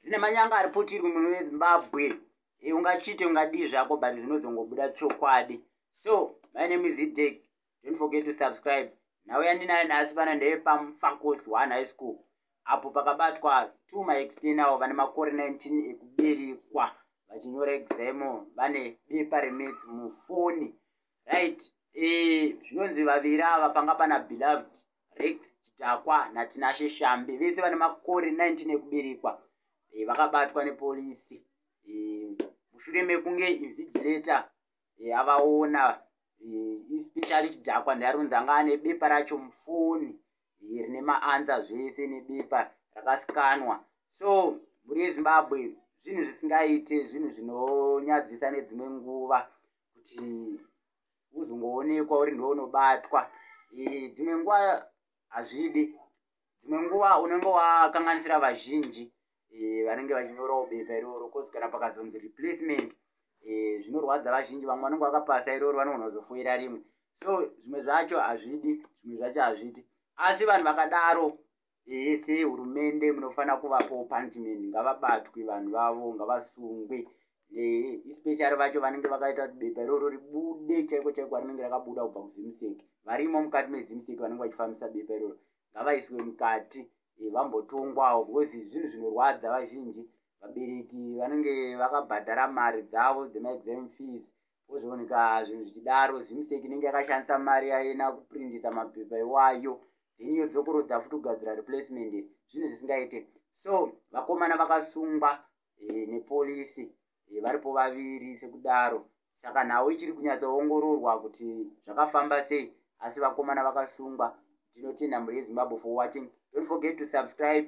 zvine manyanga ari putirwi muno vezimbabwe e ungachite ungadii zvako but zvinozongobuda chokwadi so my name is idek don't forget to subscribe nhau yandinayo nhasi pana ndeye pamfacos one high school apo pakabatwa two my external vane makore 19 ekuberekwa vachinyora examo vane bepa remets mufoni right e, zvinonzi vaviri ava panga pana beloved rex chidhakwa natinashe shambe vese vane makore 19 ekuberekwa e, vakabatwa nepolisi e, mushure mekunge invigilata e, eh, avaona especially e, chidhakwa ndiaronzi anga ane bepa racho mufoni e, rine maanza zvese nebepa rakasikanwa so mhuri yezimbabwe zvinhu zvisingaite zvinhu zvinonyadzisa nedzimwe nguva kuti uzongoonekwa uri ndiwe unobatwa dzimwe nguva hazvidi dzimwe nguva unenge wakanganisira vazhinji vanenge vachinyorawo bepa iroro cause kana pakazonzi replacement zvinorwadza vazhinji vamwe vanenge vakapasa iroro vanogona kuzofoira rimwe so zvimwe zvacho hazvidi zvimwe zvacho hazvidi asi vanhu vakadaro ehe sehurumende munofanira kuvapawo punishment ngavabatwe vanhu vavo ngavasungwe ehe especially vacho vanenge vakaita kuti bepa iroro ribude chaiko chaiko rinenge rakabuda kubva kuzimseki varimo mukati mezimseki vanenge vachifambisa bepa iroro ngavaiswe mukati eh, vambotongwawo because zvinhu zvinorwadza vazhinji vabereki vanenge vakabhadhara mari dzavo dzemaexam fees pozooneka zvinhu zvichidaro zimsek inenge yakashandisa mari yayena kuprindisa mapepa iwayo then yodzokorodza futi kugadzira replacement zvinhu zvisingaite so vakomana vakasungwa eh, nepolisi eh, varipo vaviri sekudaro saka nhau ichiri kunyatsoongororwa kuti zvakafamba sei asi vakomana vakasungwa tinotenda mhuri yezimbabwe for watching don't forget to subscribe